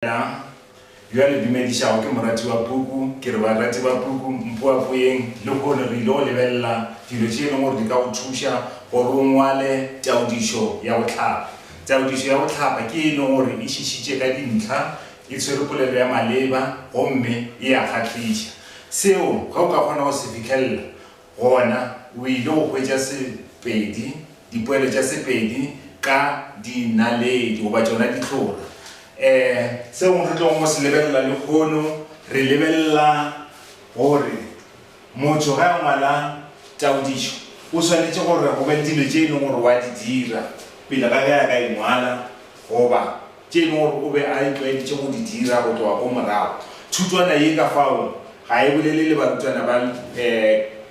Na bjale le dumedišago ke moratiwa Puku, ke re, barati ba Puku, mpoapoyeng lehono. Re ile go lebelela dilo tše e leng gore di ka go thuša gore o ngwale taodišo ya go hlapa. Taodišo ya go hlapa ke e e leng gore e šišitše ka dintlha, e tshwere polelo ya maleba gomme e a kgahliša. Seo ge o ka kgona go se fihlelela, Gona o ile go hwetša Sepedi, dipoelo tša Sepedi ka dinaledi, goba tšona ditlora. E, seo re tlogo go se lebelela lehono, re lebelela gore motho ge a ngwala taodišo, o swanetše gore go be le dilo tše e leng gore wa di dira pele ga ge a ka e ngwala, goba. tše e lego gore o be a itlwaeditše go di dira go tloga ko morago. Thutwana ye ka fao ga e bolele le barutwana ba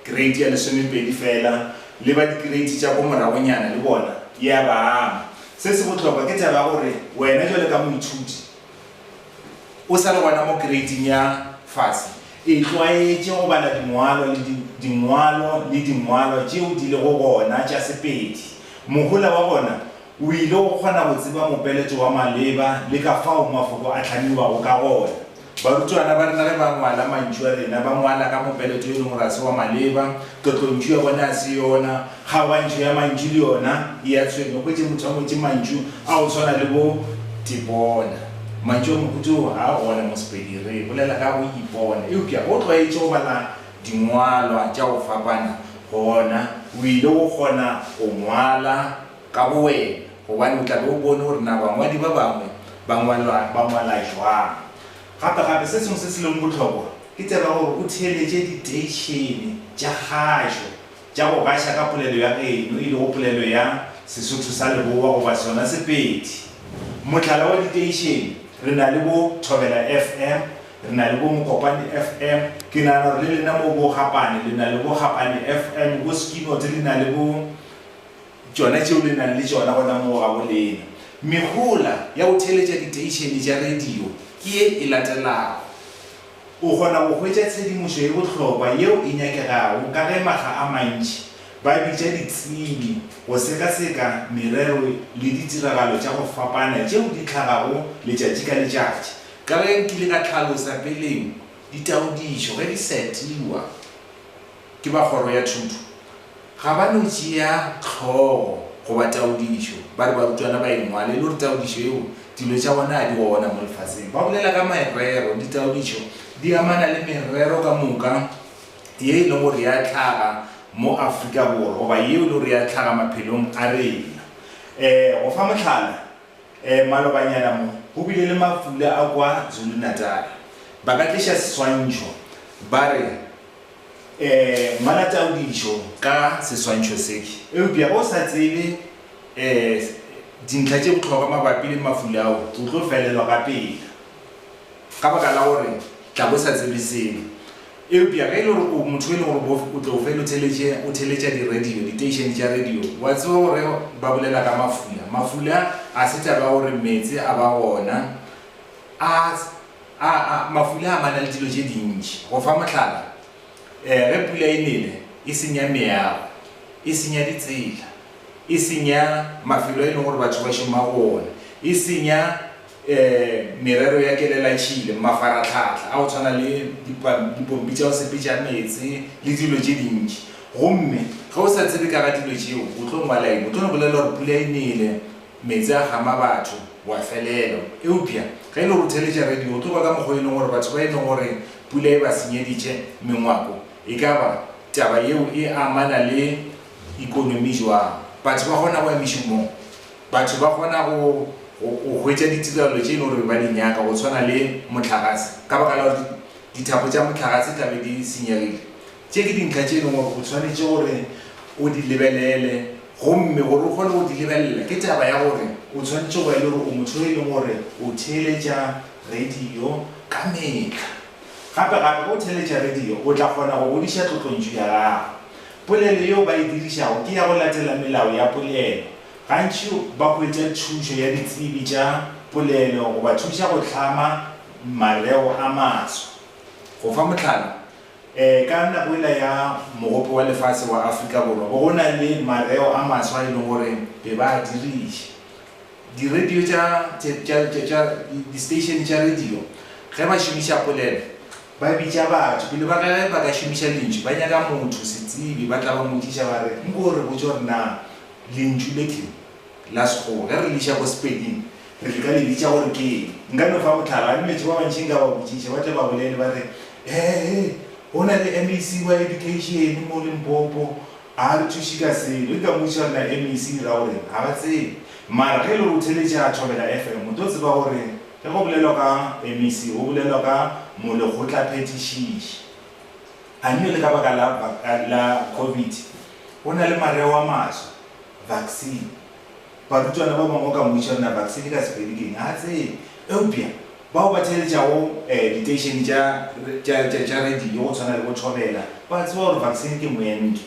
Kereiti ya Lesomepedi fela, le ba dikereiti tša ko moragonyana le bona e a ba ama. Se se bohlokwa ke taba ya gore wena bjalo ka moithuti o sa le gona mo kereiting ya fase, itlwaetše go bala dingwalo le dingwalo le dingwalo tšeo di lego gona tša Sepedi. Mohola wa gona O ile go kgona go tseba mopeletšo wa maleba le ka fao mafoko a hlamiwago ka gona. Barutwana ba rena ge ba ngwala mantšu a rena, ba ngwala ka mopeletšo e leng gore ga se wa maleba, tlotlontšu ya bone ga se yona, kgaogantšho ya mantšu le yona e a tshwenya. O hwetše motho a ngwetše mantšu a go swana le bo tipona. Mantšu a mohuta wo ga a gona mo Sepedi. Re bolela ka go ipona. Eupša o tlwaetše go bala dingwalwa tša go fapana, gona o ile go kgona go ngwala ka bowena, gobane o tla be o bone gore na bangwadi ba bangwe ba ngwala ba ngwala jwang. Gape-gape, se sengwe se se lego bohlokwa ke tseba gore o theeletše diteišene tša kgašo tša go gaša ka polelo ya geno, e lego polelo ya Sesotho sa Leboa goba sona Sepedi. Mohlala wa diteišene, re na le bo Thobela FM, re na le bo Mokopane FM, ke nagana gore le lena moo bo Gapane le na le bo Gapane FM, bo Skinots le na le bo. tšona tšeo le nago le tšona gona moo gabolena. Mehola ya go theeletša diteišene tša radio ke ye e latelago. O kgona go hwetša tshedimošo ye bohlokwa yeo e nyakegago ka ge makga a mantši ba bitša ditsebi go sekaseka merero le ditiragalo tša go fapana tšeo di tlhagago letšatši ka letšatši. Ka ge nkile ka hlalosa peleng, ditaodišo ge di setiwa, ke ba Kgoro ya Thuto, ga ba no tšea hlogo goba taodišo, ba re barutwana ba e ngwale e le gore taodišo yeo dilo tša gona ga di gona mo lefaseng. Ba bolela ka merero, ditaodišo di amana le merero ka moka ye e lego gore ya hlaga mo Afrika Borwa goba yeo e lego gore ya hlaga maphelong a rena. Um go fa mohlala, um malobanyana mo go bile le mafula a kwa Zulu-Natal. Ba ka tliša seswantšho ba re. Ngwala taodišo ka seswantšho se. Eupša ge o sa tsebe dintlha tše bohlokwa mabapi le mafula ao, o tlo felelwa ka pela ka baka la gore tla bo o sa tsebe selo. Eupša ge e le gore o motho e le gore bo o tlo fela o theletše, o theletša di-radio, diteišene tša radio, wa tseba gore ba bolela ka mafula. Mafula ga se taba ya gore meetse a ba gona, a. A A mafula a mana le dilo tše dintši. Go fa mohlala, ge pula e nele, e senya meago, e senya ditsela, e senya mafelo a e leng gore batho ba šoma go ona, e senya merero ya kelelatšhile, mafaratlhatlha a go tshwana le dipompi tša go sepetša meetse le dilo tše dintši. Gomme ge o sa tsebe ka ga dilo tšeo, o tlo ngwala eng? O tlo re bolelela gore pula e nele, Meetse a gama batho, wa felelwa. Eupša ge e le gore o theeletša radio, o tlo kwa ka mokgwa wo e leng gore batho ba e leng gore pula e ba senyeditše mengwako. E ka ba taba yeo e amana le ekonomi bjang? Batho ba kgona go ya mešomong? Batho ba kgona go, go, go hwetša ditirelo tše e leng gore ba di nyaka, go tshwana le mohlagase, ka baka la gore dithapo tša mohlagase tla be di senyegile? Tše ke dintlha tše e leng gore o swanetše gore o di lebelele gomme gore o kgone go di lebelela ke taba ya gore o swanetše go ya le gore o motho yo e leng gore o theeletša radio ka metlha. Gape gape ge o theeletša radio o tla kgona go godiša tlotlontšu ya gago. Polelo yeo ba e dirišago ke ya go latela melao ya polelo. Gantši ba hwetša thušo ya ditsebi tša polelo go ba thuša go hlama mareo a maswa. Go fa mohlala, Ka nako yela ya Mogope wa Lefase wa Afrika Borwa bo go na le mareo a maswa a e leng gore be ba a diriša. Di-radio tša, tša, tša, tša, di-station tša radio ge ba šomiša polelo ba bitša batho pele ba ka, ge ba ka šomiša lentšu ba nyaka motho, setsebi, ba tla ba mmotšiša ba re, Nko o re botše gore na lentšu le tleng La sekgowa. Ge re le iša ko Sepeding, re tla ka le bitša gore ke eng? Nka no fa mohlala, a nmetše ba bantši nka ba botšiša, ba tle ba bolele ba re, He-he, go na le MEC wa Education mo Limpopo, a re thuše ka selo. E ka mmotšiša gore na MEC e ra go reng? Ga ba tsebe. Mara ge e le gore o theletša Thobela FM, o tlo tseba gore ge go bolelwa ka MEC, go bolelwa ka Molekgotlaphethišiši. A nno le ka baka la, la Covid, go na le mareo a maswa. vaccine. Barutwana ba bangwe o ka mmotšiša gore na vaccine ka Sepedi ke eng, ga a tsebe. Eupša bao ba theeletšago diteišene tša radio go tshwana le bo Thobela ba a tseba gore vaccine ke moento.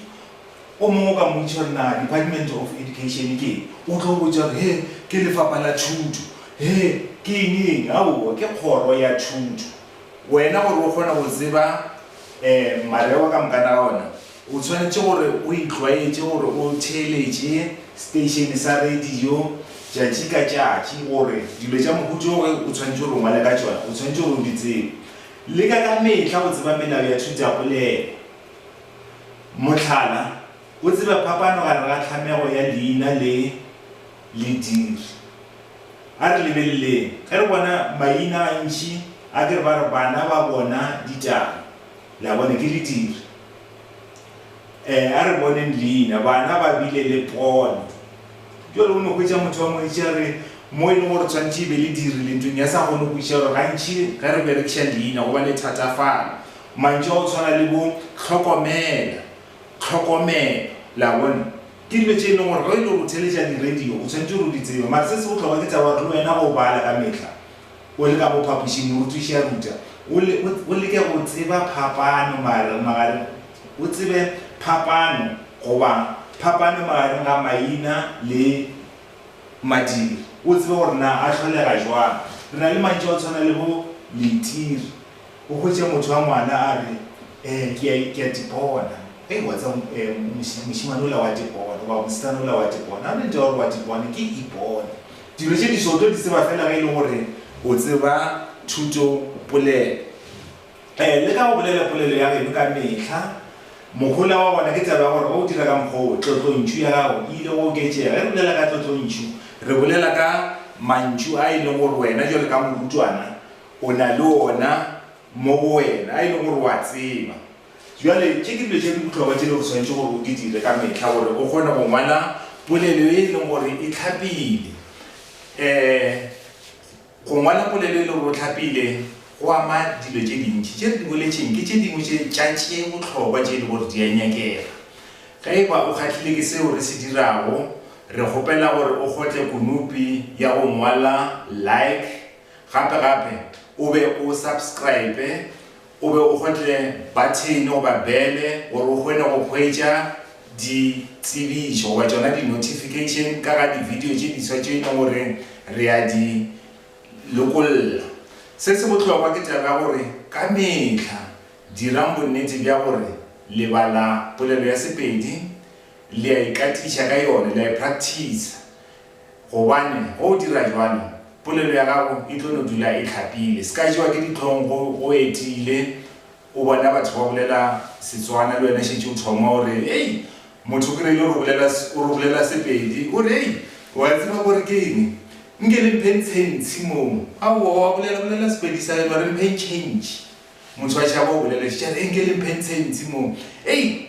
O mongwe o ka mmotšiša gore na Department of Education ke eng, o tlo go botša gore he, ke Lefapha la Thuto, he, ke eng-eng, aowa ke kgoro ya thuto. Wena gore o kgone go tseba mareo ka moka na ona, O tshwanetše gore o itlwaetše gore o theeletše seteišene sa radio tšatši ka tšatši gore dilo tša mohuta o o tshwanetše gore o ngwale ka tšona o tshwanetše gore o di tsebe. Leka ka mehla go tseba melao ya thutapolelo. Mohlala, o tsebe phapano gare ga tlhamego ya leina le lediri. A re lebeleleng, ge re bona maina gantši a ke re ba re bana ba bona ditaba, le a bona, ke lediri. Eh, a re boneng leina. Bana ba bile le pono. Bjale o no hwetša motho wa ngwetši a re, Mo e lego gore tshwanetše e be le dirile ntlong ya sa kgone go kwešiša gore gantši ge re berekiša leina go ba le thatafalo. Mantšu a go tshwana le bo, hlokomela, tlhokomelo. Le a bona? Ke dilo tše e lego gore ge e le gore o theeletša di-radio, o tshwanetše gore o di tsebe. Mara se se bohlokwa ke taba ya gore le wena o bala ka mehla. O le ka mo phapošing, morutiši a ruta. O le, o, o leke go tseba phapano magareng, magareng, o tsebe phapano, goba phapano magareng ga maina le madiri, o tsebe gore na a hlolega jwang. Re na le mantšu a go tshwana le bo leitiri. O hwetše motho wa ngwana a re, Eh, ke a, ke a tipona. Hei, wa tseba, eh, moši, mošemane ola wa tipona, goba mosetsana ola wa tipona. Ga o na ntwa ya gore wa tipona, ke ipone. Dilo tše diso o tlo di tseba fela ge e le gore o tseba thutopolelo. Ee, leka go bolela polelo ya geno ka mehla. Mohola wa gona ke taba ya gore ge o dira ka mokgwa wo, tlotlontšu ya gago e ile go oketšega. Ge re bolela ka tlotlontšu, re bolela ka mantšu a e leng gore wena bjalo ka morutwana o na le ona mo go wena, a e leng gore o a tseba. Bjale, tše ke dilo tše di bohlokwa tše le go swanetše gore o di dire ka mehla gore o kgone go ngwala polelo ye e leng gore e tlhapile. Um Go ngwala polelo e le gore o tlhapile go ama dilo tše dintši. Tše re di boletšeng ke tše dingwe tše tša tše bohlokwa tše e le gore di a nyakega. Ge e ba o kgahlile ke seo re se dirago, re kgopela gore o kgotle konopi ya go ngwala Like, gape-gape o be o subscribe O be o gotle bathene goba bele gore o kgone go hwetša ditsebišo goba tšona di-notification ka ga di-video tše diswa tše e leng gore re a di lokolla. Se se bohlokwa ke taba ya gore ka mehla dirang bonnete bja gore le bala polelo ya Sepedi, le a ikatiša ka yona, le a e practicer. Gobane ge o dira bjalo, polelo ya gago e tlo no dula e hlapile. Se ka tšewa ke dihlong ge o etile o bona batho ba bolela Setswana, le wena šetše o thoma o re, Hei! Motho ke reile o re bolela, o re bolela Sepedi. O re, Hei! O a tseba gore ke eng? Nke le mpheng tshentshi moo. Aowa, o a bolela, bolela Sepedi sa heno, a re mpheng tšhentši. Motho a tšhaba go bolela šešane. Hei! Nke le mpheng tshentshi moo. Hei!